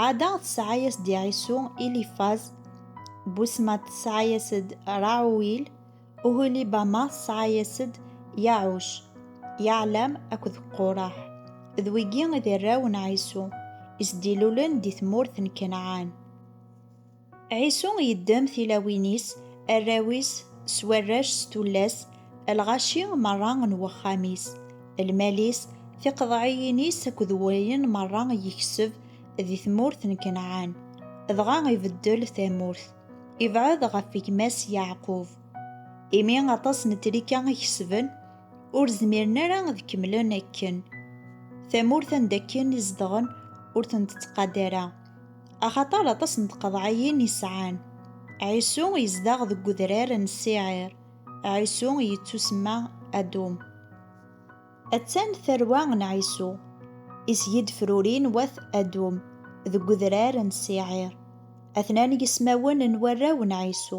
Ɛada tesɛa-yas-d i Ɛisu Ilifaz, Busma tesɛa-yas-d Raɛuwil, Uhulibama tesɛa-yas-d Yaɛuc, Yaɛlam akked Quṛaḥ. D wigi i d arraw n Ɛisu, i s-d-ilulen di tmurt n Kanɛan. Ɛisu yeddem tilawin-is, arraw-is, s warrac, s tullas, lɣaci merra n wexxam-is, lmal-is, tiqeḍɛiyin-is akked wayen merra i yekseb di tmurt n Kanɛan, dɣa ibeddel tamurt, ibɛed ɣef gma-s Yeɛqub. Imi aṭas n trika i kesben, ur zmiren ara ad kemmlen akken. Tamurt anda akken i zedɣen ur ten-tettqadar ara. Axaṭer aṭas n tqeḍɛiyin i sɛan. Ɛisu yezdeɣ deg udrar n Siɛir. Ɛisu yettusemma Adum. Attan tarwa n Ɛisu, i s-yid-frurin wat Adum, deg udrar n Siɛir. Atnan yismawen n warraw n Ɛisu,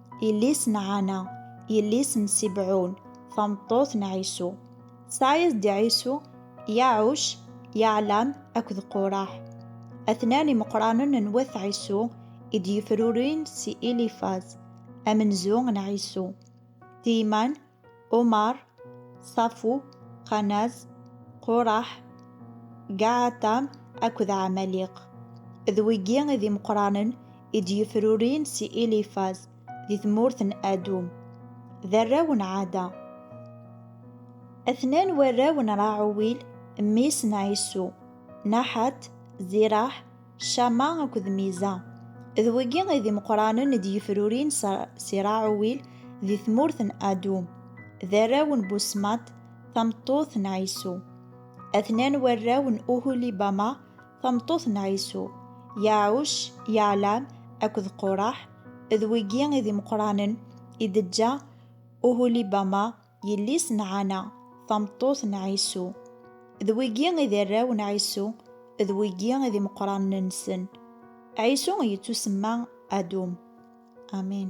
Yelli-s n Ɛana, yelli-s n Sibɛun, tameṭṭut n Ɛisu. Tesɛa-yas-d i Ɛisu, Yaɛuc, Yaɛlam akked Quraḥ. Atnan imeqranen n wat Ɛisu i d-yefrurin si Ilifaz, amenzu n Ɛisu, Tiyman, Omar, Safu, Qanaz, Quraḥ, Gaɛatam akked Ɛamaliq. D wigi i d imeqranen i d-yefrurin si Ilifaz di tmurt n Adum. D arraw n Ɛada. Atnan warraw n Raɛuwil, mmi-s n Ɛisu, Naḥat, Ziraḥ, Cama akked Miza. D wigi i d imeqranen i d-yefrurin si Raɛuwil di tmurt n Adum. D arraw n Busmat, tameṭṭut n Ɛisu. Atnan warraw n Uhulibama, tameṭṭut n Ɛisu, Yaɛuc, Yaɛlam akked Quraḥ. D wigi i d imeqranen i d-teǧǧa Uhulibama, Yelli-s n Ɛana, tameṭṭut n Ɛisu. D wigi i d arraw n Ɛisu, d wigi i d imeqqranen-nsen. Ɛisu yettusemma Adum. Amin.